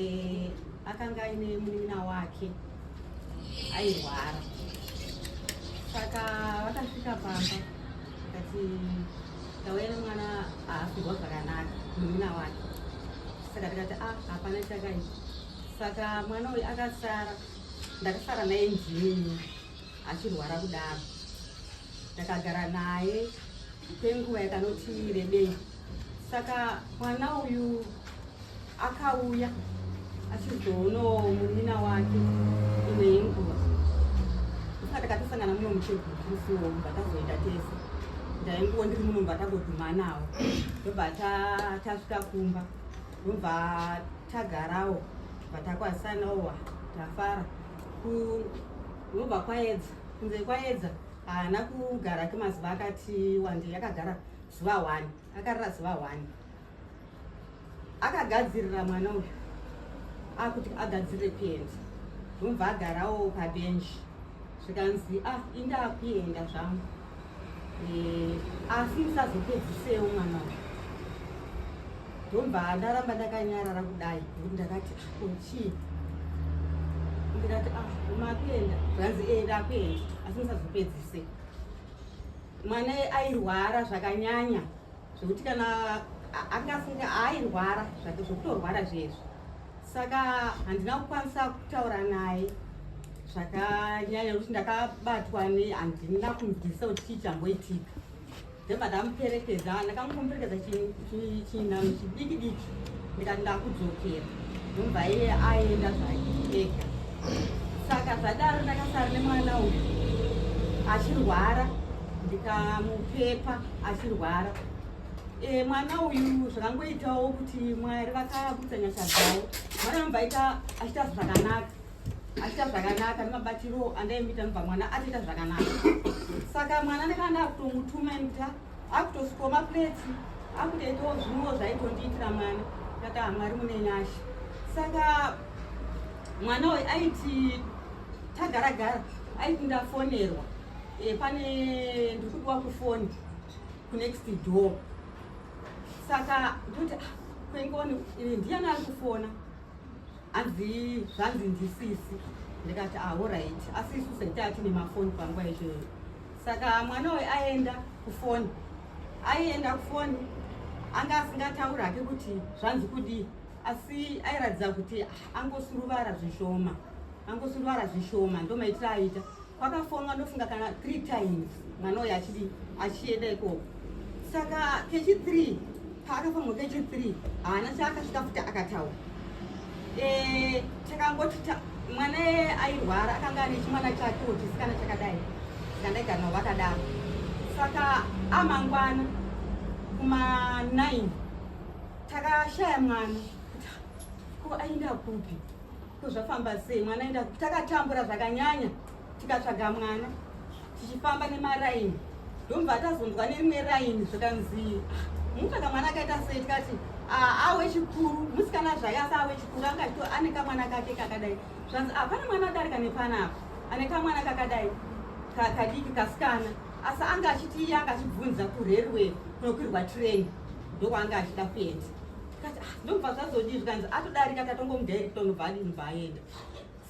eh, akanga aine munin'ina wake airwara saka vakasvika pamba akati tauya nemwana aafirwa zvakanaka munin'ina wake saka tikati a ah, hapana chakaita saka mwana uyu akasara ndakasara naye nzini achirwara kudaro ndakagara naye kwenguva yakanoti rebei saka mwana uyu akauya achizoonawo munina wake ine yenguva saka takatosangana muno muchegutisiwo mubva tazoenda tese ndainguwo ndiri muno mubva tagodhumanawo ndobva tasvika kumba ndobva tagarawo bva takwazisanawo tafara ndobva kwaedza kunze kwaedza haana kugara kemazuva akati wande yakagara zuva one akarara zuva one akagadzirira mwana uyu akuti agadzirire kuenda ndobva agarawo pabenji zvikanzi ah inda akuenda zvangu eh, asi musazopedzisewo mwana uyu ndobva ndaramba ndakanyarara kudai kuti ndakati kochii ah, ndikati ah makuenda zvanzi enda eh, akuenda asi musazopedzise mwana airwara zvakanyanya zvekuti kana angafunga airwara zvake zvekutorwara zvezvo saka handina kukwanisa kutaura naye zvakanyanya nekuti ndakabatwa ne handina kumubvisa kuti chii chamboitika ndobva ndamuperekedza ndakangomuperekedza chii chinhanho chidiki diki ndikati ndakudzokera ndobva iye aenda zvaeka saka zvadaro ndakasara nemwana uyu achirwara ndikamupepa achirwara e, mwana uyu zvakangoitawo kuti mwari vakabudisa nyasha dzavo mwana anobva aita achiita zvakanaka achiita zvakanaka nemabatiro andaimuita nobva mwana atoita zvakanaka saka mwana ndakanda kutomutuma nekuti akutosikoma pleti akutoitawo zvimwewo zvaitondiitira mwana ndaka mwari mune nyasha saka mwana uyu aiti tagaragara aiti ndafonerwa e, pane ndiri kudiwa kufoni kunext door saka ndoti ah, kwengoni ndiyani ari kufona hanzi zvanzi ndisisi ndikati ahorit ah, asi isu seta atine mafoni panguva izvoyo saka mwana uyu aenda kufoni aienda kufoni anga asingatauri hake kuti zvanzi kudii asi airatidza kuti angosuruvara zvishoma angosuruvara zvishoma ndomaitira aita Kwakafonwa ndofunga kana 3 times mwana uyu achidi achienda ikoko. Saka kechi 3 paakafonwa kechi 3 haana chaakasvika futi akataura. Eh takangoti ta, mwana airwara akanga ane chimwana chake chisikana chakadai. Ndandagara navo vakadaro. Saka amangwana kuma 9 takashaya mwana kuti ko aenda kupi Ko zvafamba sei mwana enda takatambura zvakanyanya tikatsvaga mwana tichifamba nemaraini ndobva tazonzwa nerimwe raini zvikanzi mutsvaga mwana akaita sei tikati ah, awe chikuru musikana zvaye asi awe chikuru anga chito ane kamwana kake kakadai zvanzi hapana ah, mwana adarika nepanapa ane kamwana kakadai kadiki kasikana asi anga achiti iye anga achibvunza kurerwe kunokwirwa train ndokwaanga achida kuenda ndobva zvazodii zvikanzi atodarika tatongomudirecta unobva adini bva aenda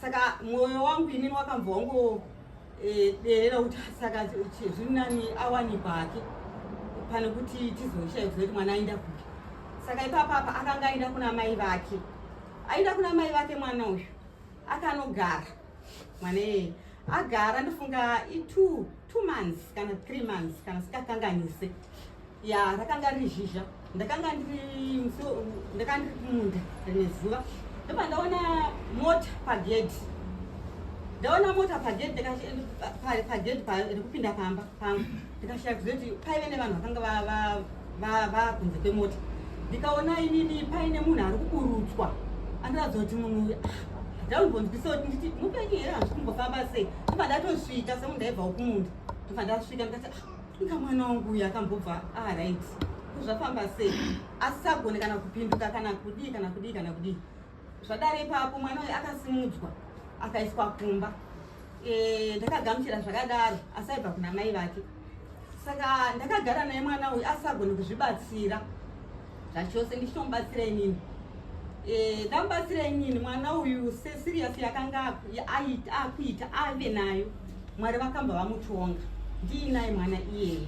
saka mwoyo wangu inini wakambva wangoderera eh, kuti saka zviri nani awanikwa hake pane kuti tizoshaiwa kuti mwana aenda kupi saka ipapapa akanga aenda kuna mai vake aenda kuna mai vake mwana uyu akanogara mwana iyeye agara ndofunga i2 two months kana three months kana sikakanganise ya rakanga riri zhizha ndakanga ndiri ndakanga ndiri kumunda rine zuva ndoba ndaona mota pagedhi ndaona mota pagedhi pagedhi rekupinda pamba pangu ndikashaya kuzoti paive nevanhu vakanga vava kunze kwemota ndikaona inini paine munhu ari kuburutswa andiratidza kuti munhu uyu ah, ndaumbonzwisa kuti nditi mupenyu here hanzi kumbofamba sei ndobva ndatosvika semu ndaibva ukumunda ndobva ndasvika ndikati ah, inga mwana wangu uyu akambobva arit ah, zvafamba sei asi sagone kana kupinduka kana kudii kana kudii kana kudii Zvadare ipapo mwana uyu akasimudzwa akaiswa kumba eh, ndakagamuchira zvakadaro asaibva kuna mai vake saka ndakagara naye mwana uyu asagoni kuzvibatsira zvachose ndichitomubatsira inini eh, ndamubatsira inini mwana uyu sesiriyasi yakanga akuita ave nayo Mwari vakamba vamutonga ndiinaye mwana iyeye.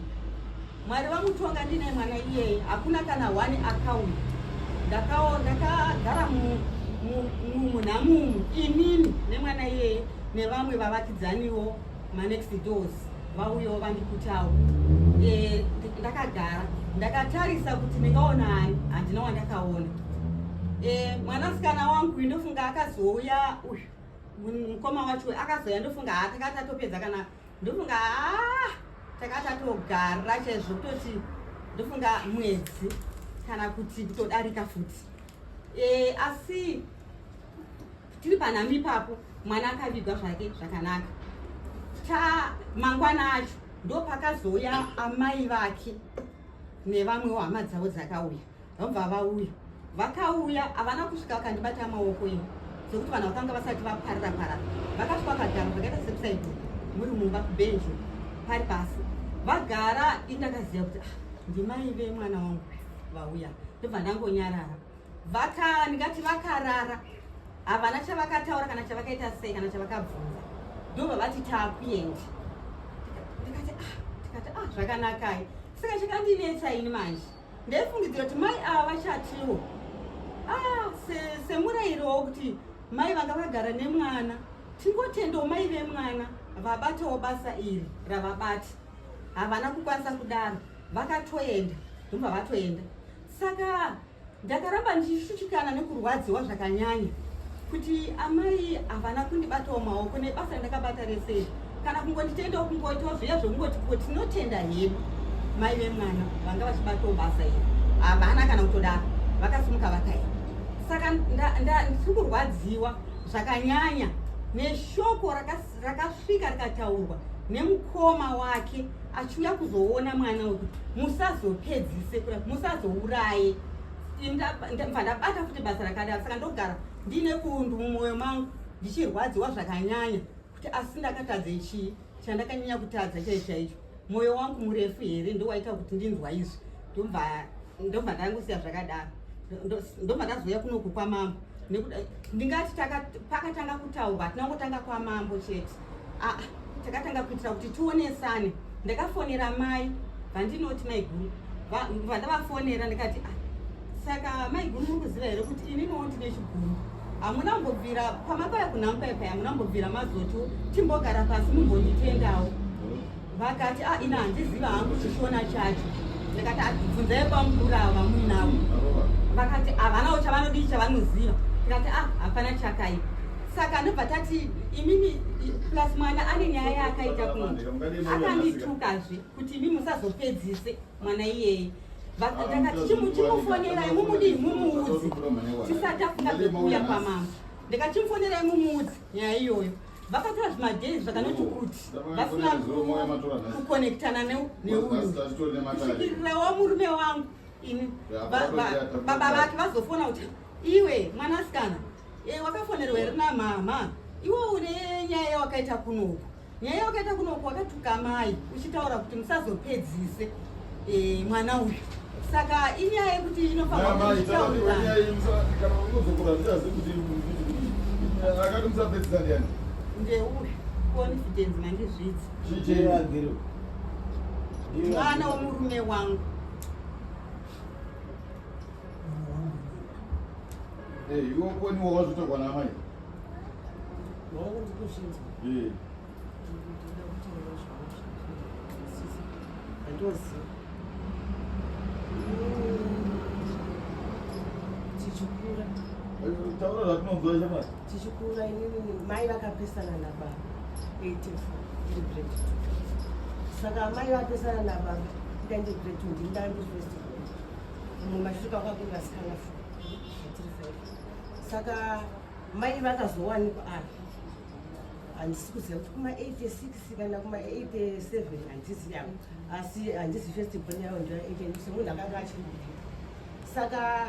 Mwari vamutonga ndiinaye mwana iyeye. Hakuna kana one account. Ndakawo ndakagara mu munhamumu inini nemwana iyeye nevamwe vavakidzaniwo manext doors vauyawo vandikutawo e, ndakagara ndakatarisa kuti ndingaona ani handina wandakaona e, mwanasikana wangu indofunga akazouya uyu mukoma wacho akazoya ndofunga haa takati tatopedza kana ndofunga haa takati tatogara chaizvo kutoti ndofunga mwedzi kana kuti kutodarika futi e, asi tiri panhami ipapo mwana akavigwa zvake zvakanaka ta mangwana acho ndopakazouya amai vake nevamwewo hama dzavo dzakauya vabva vauya vakauya havana kusvika vakandibata maoko iyi zvekuti vanhu vakanga vasati vaparira parara vakasvika vakagara zvakaita sekusaido muri mumba kubenjo pari pasi vagara indakaziva kuti ah, ndimai vemwana wangu vauya ndobva ndangonyarara vaka ndingati vakarara havana chavakataura kana chavakaita sei kana chavakabvunza ndobva vati taakuendi ndikati ah, ndikati ah zvakanakai saka chakandinetsa ini manje ndaifungidzira kuti mai ava vachatiwo ah, semurayiro wokuti mai vanga vagara nemwana tingotendawo mai vemwana vabatawo basa iri ravabati havana kukwanisa kudaro vakatoenda ndobva vatoenda saka ndakaramba ndichishutikana nekurwadziwa zvakanyanya kuti amai havana kundibatawo maoko nebasa randakabata resei kana kungonditendawo kungoitawo zviya zvekungoti ko tinotenda hedu mai vemwana vanga vachibatawo basa iri havana kana kutodaro vakasimuka vakaenda saka ndiri kurwadziwa zvakanyanya neshoko rakasvika rikataurwa nemukoma wake achiuya kuzoona mwana uyu musazopedzise musazouraye ndabva ndabata futi basa rakadaro saka ndogara ndiine kundu mumwoyo mangu ndichirwadziwa zvakanyanya kuti asi ndakatadze chii chandakanyanya kutadza chai chaicho mwoyo wangu murefu here ndowaita kuti ndinzwa izvi ndobva ndangosiya zvakadaro ndobva ndazouya kunoku kwamambo nekuda ndingati pakatanga kutaurwa tinangotanga kwamambo chete ah, takatanga kuitira kuti tionesane ndakafonera mai vandinoti maiguru vandavafonera ndikati ah, saka maiguru muri kuziva here kuti ininiwo ndine chiguru hamuna kumbobvira pamakauya kunhamupepe hamuna kumbobvira mazoto timbogara pasi mumbonditendawo vakati a ah, ina handiziva hangu chishona chacho ndikati abvunzai ah, kwamukuru avo vamuinavo vakati havanawo ah, chavanodii chavanoziva ndikati a hapana chakaipa saka ndobva tati imimi plus mwana ane nyaya yaakaita kuno akandituka zve kuti imi musazopedzise mwana iyeye ndakati chimufonerai mumudii mumuudzi tisati afunga zvekuuya kwamama ndikati chimufonerai mumuudzi nyaya iyoyo vakatora zvimadhei zvakanoti kuti vasina kukonektana neuyu kusvikirirawo murume wangu ini baba vake vazofona kuti iwe mwanasikana eh, wakafonerwa here namama iwe une nyaya yawakaita kunoku nyaya yawakaita kunoku wakatuka amai uchitaura kuti musazopedzise eh, mwana uyu saka inyaya yekuti inofaniraakati musapedzisa ndiani ndeuyu confidence mandizvidzi mwana womurume wangu iwe koniwa wazvitogwa namai wakuti kushinzwa Eh. Taura zvatinonzwa chemwana. Tichikura inini mai vakapesana nababa 84 ndiri grade 2. Saka mai vapesana nababa ndandi grade 2 ndiri ndandi first born. Mumwe mashure kwanga kuri vasikana 4 ndiri 5. Saka mai vakazowanikwa apa handisi kuziva kuti kuma 86 kana kuma 87 handisi yavo asi handisi first born yavo ndoya 8 so munhu akanga achiri kudii saka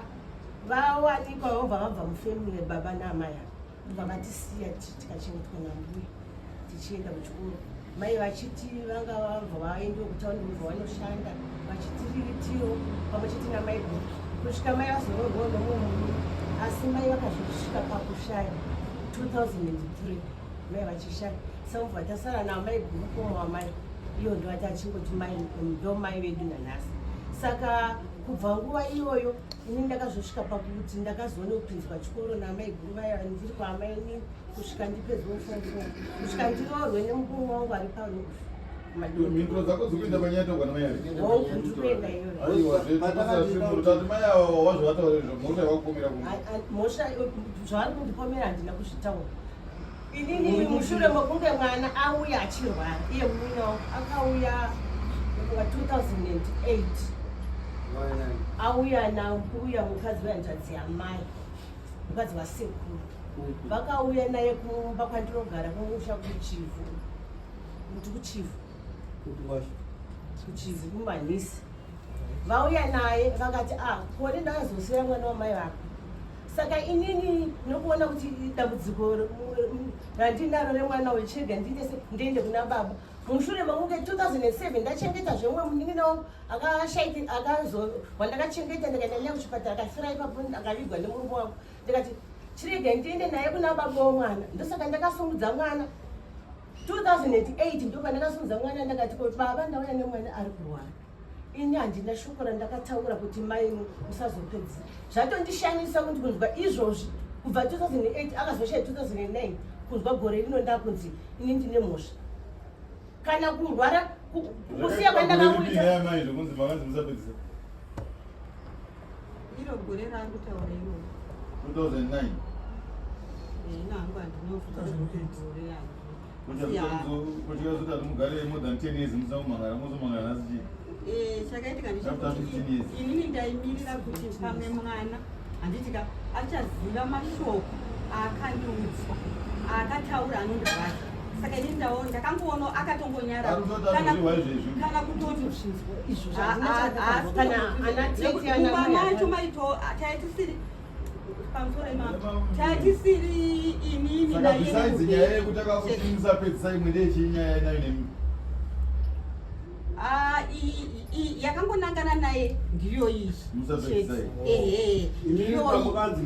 vawanikwa vobva vabva mufamily baba naamai ava vavatisiya tikachengetwa nambuya tichienda kuchikoro mai vachiti vanga vabva vaende kutaundi kubva vanoshanda vachitiriritiwo pamwe chete namai bhuku kusvika mai vazoroorwawo nomwe murume asi mai vakazosvika pakushaya 2003 mai vachishaya sakuti vatasara navo mai bhuku komwamai iyo ndovati achingoti mai ndo mai vedu nanhasi saka kubva nguva iyoyo ini ndakazosvika pakuti ndakazoone kupinzwa chikoro namai guru vaya ndiri kwaamai inini kusvika ndipedzwe ufungu kusvika ndiroorwe nemukuru wangu ari parufu mhinduro dzako dzikuenda panyatogwa namayaaiwazveatimurutati mai ava wazvavataura izvo mhosva yavakukomera mhosva zvavari kundipomera handina kuzvitaura inini mushure mokunge mwana auya achirwara iye murume wangu akauya wa 2008 auya nauya mukadzi wehanzvadzi yamai mukadzi wasekuru mhm. vakauya naye kumba kwandinogara kumusha kuchivu kuti kuchivu kuchivu kumanhisi vauya naye vakati ah kone ndakazosira mwana wamai vako saka inini nokuona kuti dambudziko randinaro remwana wechega ndiite se ndiende kuna baba mushure mekunge 2007 ndachengeta zvemwe munin'ina wangu akashaika akazo wandakachengeta ndikaenda naye kuchipatara akafira ipapo akavigwa nemurume wangu ndikati chirega ndiende naye kuna baba wemwana ndosaka ndakasungudza mwana 2008 ndopandakasungudza mwana ndakati ko baba ndauya nemwana ari kurwara ini handina shoko randakataura kuti mai musazopedzi zvatondishamisa kuti kunzwa izvozvi kubva 2008 akazoshaya 2009 kunzwa gore rino ndakunzi ini ndine mhosva kana kurwara kusiya kwandakakuitakunzimakanzimusapedzisa iro gore raakutaura iro 2009 ini hangu handinofuta gore yangu Eh, chakaitika ndechekuti inini ndaimirira kuti pamwe mwana handitika achaziva mashoko aakandiudza aakataura anonda vake saka ini ndaona ndakangoona akatongonyara kana kutoti izvo zvaazvokana ana tete ana macho maito taitisiri tatisiri inini besides nyaya yekuti akakusimisa pedzisa imwe ndeyechii nyaya yainayo nemi ah, yakangonangana naye ndiyo iyi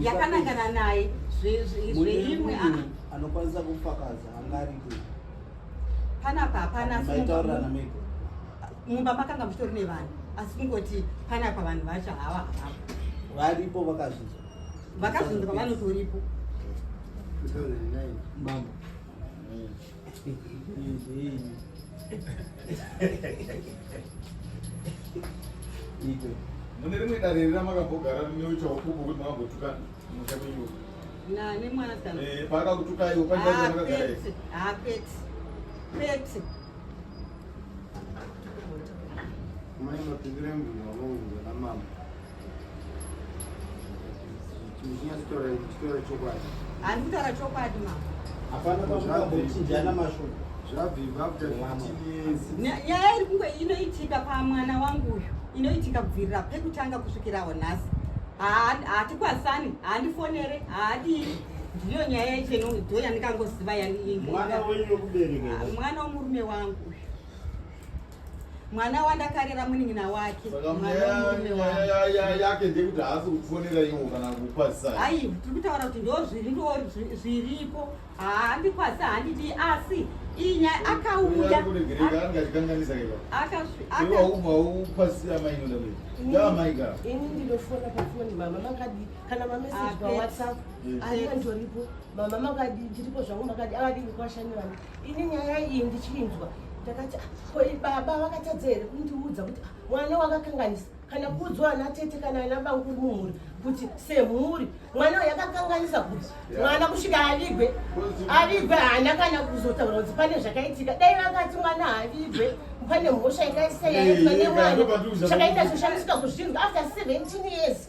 yakanangana naye zveimwe ah. anokwanisa kufakaza angariko panapa hapana mumba makanga muchitori nevanhu asi kungoti panapa vanhu vacho hava hava varipo vakazvinzwa vakazvinzwa vanotoripo mambo mune rimwe dare rina makambogara neuchaupupu kuti makambotukana musha menyu nani mwana kana eh, pakakutukaiwo pandaaakwete akwete kwete Mai mapindira mvura wavonga na mama. Muzhinya sitora sitora chokwadi. Ani kutara chokwadi mama. Hapana pakuda kuchinjana mashoko. Zvabvibva after 15 years. Nyaya iri kunge inoitika pamwana wangu uyu. Inoitika kubvirira pekutanga kusvikirawo nhasi. Haatikwasani, haandifonere, haadii. ndiyo nyaya yacho ndo yandikangoziva yaimwana wenyu wekubereka ah, mwana womurume wangu mwana wandakarera munin'ina wake yake ndekuti haasi kufonera iwo kana kukwazisa hai tiri kutaura kuti ndo zviri ndo zviripo haandikwazisa handidi asi inya akauya akauya kana mamessage pawhatsapp aentoripo mama makadi ndiripo zvangu makadi avadi kukwashanirana ini nyaya iyi ndichinzwa ndakati ah, ko baba vakatadza here kundiudza kuti ah, mwana wakakanganisa kana kuudzwa ana tete kana ana banguri mumhuri kuti semhuri mwana uyo akakanganisa kuti mwana kusvika avigwe avigwe haana kana kuzotaura kuti pane zvakaitika dai vakati mwana haavigwe pane mhosva yakaisa yaitwa nemwana chakaita choshandisika kuzvinhu after 17 years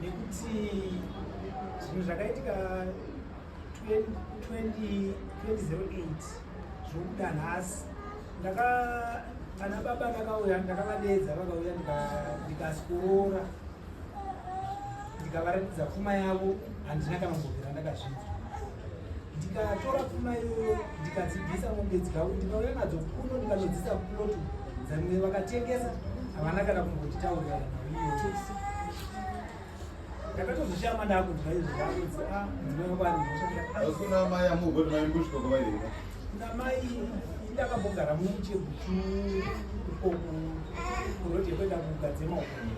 nekuti zvinhu zvakaitika 2008 zvokuda nhasi ndaka kana baba ndakauya ndakavadeedza vakauya ndikasikorora ndikavaratidza pfuma yavo handina kana kumbobvira ndakazvinza ndikatora pfuma iyoyo ndikadzibvisa mombe dzavo ndikauya nadzo kuno ndikanodzisa kuloto dzamwe vakatengesa havana kana kumbotitaurira ndakatozoshama ndakunzwa izvi ndakunzi a ah, ndinovaaiauna ah. mai amugoti mai mbusvika kwavaireka kuna mai ndakambogara muchekuchu ikoko kuroti yekuenda kugadzema uko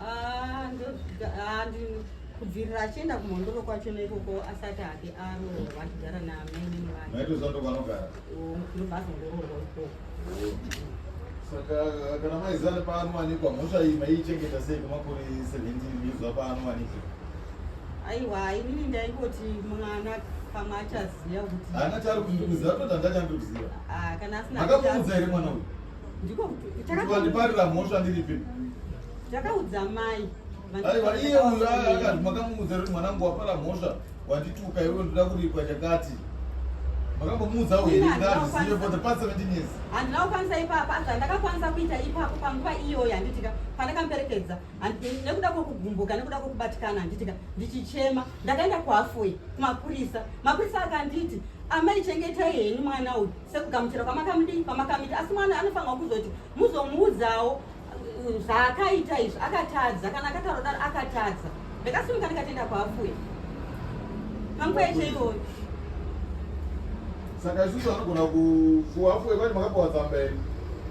Ah, ah, kubvirira achienda kumhondoro kwacho neikoko asati ake aroorwa achigara naamene nevanondobazongoroorwa oh, ikoko saka kana maizani paanowanikwa mhosva iyi maiichengeta sei kwemakore 17 years apaanowanikwa aiwa inini ndaingoti mwana pamwe achaziva kuti ana chari kundiuziva toti andachandi kuziva ah, kana asina akamuudza here mwana uyu ndikondiparira mhosva ndiripi ndakaudza mai aiwa iye uyu akati makamuudza kuti mwanangu wapara mhosva wandituka iwe ndoda kuripwa chakati makambomuudza uye ndazvizive for the past 17 years handina kukwanisa ipapa asi zvandakakwanisa kuita ipapo panguva iyoyo handitika pandakamuperekedza nekuda kwokugumbuka nekuda kwokubatikana handitika ndichichema ndakaenda kuhafway kumapurisa mapurisa akanditi amai chengetai henyu mwana uyu sekugamuchira kwamakamudii kwamakamuita asi mwana anofanirwa kuzoti muzomuudzawo uh, zvaakaita izvi akatadza kana akataura daro akatadza ndakasimuka ndikatenda kwaafuye pamukweche iyoyo saka isusu anogona kuafuye kwati makapiwa tsamba iri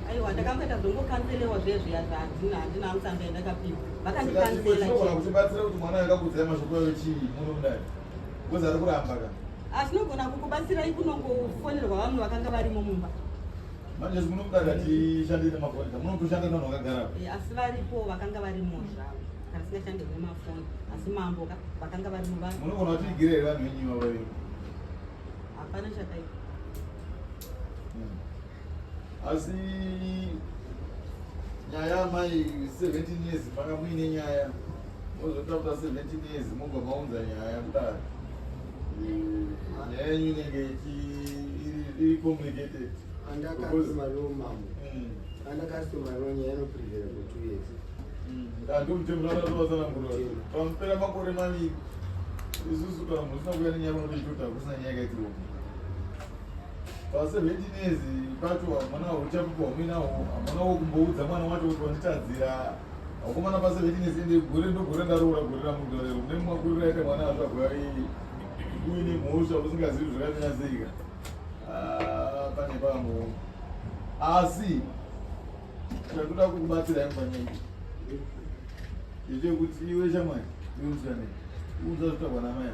aiwa ndakamboita zvongokanselewa zvezviya zvaadzina handina amusamba yandakapiwa vakandikanselaa kutibatsira kuti mwana akakudzai mashoko ayo chii muno mudai Ngozi ari kuramba ka. Asinogona ah, kukubatsirai kunongofonerwa vamwe vakanga varimo mumba. Manje munokuda katishande nemafoni. Munotoshanda navo vakagara. Eh, asi varipo vakanga varimo zvavo. Kana singashande nemafoni. Asi mambo ka vakanga varimo vanhu. Munogona kuti igire vanhu venyu vavo. Hapana chakaipa. asi nyaya amai 17 years manga muine nyaya mozotakuta 17 years mobva maunza nyaya kudaro nyaya yenyu inenge iri complicated andakastomaro nyaya inoprivera for two years andimutemunaatsanangurapamupera mm. makore maviri isusu kana munhu usina kuya nenyaya unotoitota kusina nyaya kaitiro paseventinezi pacho hamuna uchapupu hwamuinaho hamuna wokumboudza mwana wacho kuti wanditadzira vakomana paseventinezi ende gore ndogore ndaroora gore ramudorero mune mumakuriro aita mwana azvagwa uine mhosva usingazivi zvakanyatsika ah, pane pambo asi chandoda kukubatsira yangu panyaya ichekuti iwe shamwari iwe musikana unza zvitagwa namaya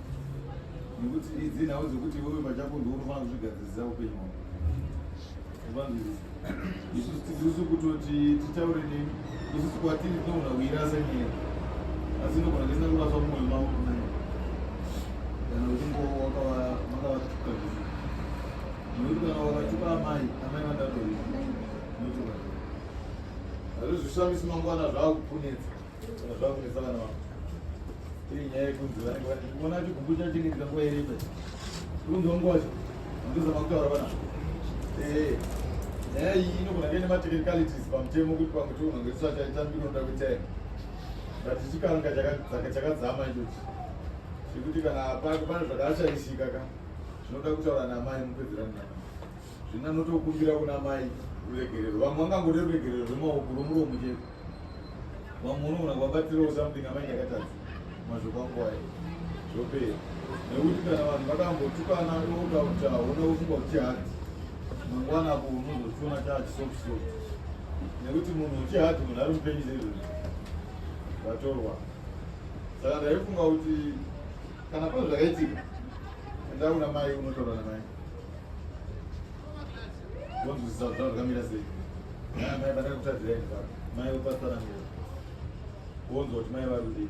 nekuti idzi nhau dzekuti iwewe pachako ndiwe unofanira kuzvigadzirisa upenyu hwako vanzwirisa isusu tizisu kutoti titaure nemi isusu kwatiri tinogona kuirasa nyaya asi inogona tisina kuraswa mumwe mavo kunaya kana uchingo makavatuka zvisi nekuti kana wakatuka amai amai vandatori nekuti hazvozvishamisi mangwana zvava kupunetsa nyaya iyi inogona kuve nematechnicalities pamutemo kuti pamwe tiunongoiswa chaitambinoda kuita but chikanga chakadzama ichochi zvekuti kana apako pane zvakashaishika ka zvinoda kutaura namai mupedzera mnaa zvina notokumbira kuna mai ruregerero vamwe vangangode ruregerero rwemaoko rwomuromo chete vamwe unoona kuvabatirawo something amai ndakatadza mazvoko angu ayo zvopera nekuti kana vanhu vakambotukana okakuta hona kufunga kuti hati mangwana apo unozochiona chaachisofuso nekuti munhu uchihati munhu ari mupenyu zezvozvo vatorwa saka ndaifunga kuti kana pane zvakaitika enda kuna mai unotaura namai Ndonzwisisa kuti zvakamira sei. Mai mai pandaka kutadzira ini pano. Mai vopatsanangura. Wonzwa kuti mai vari kudii.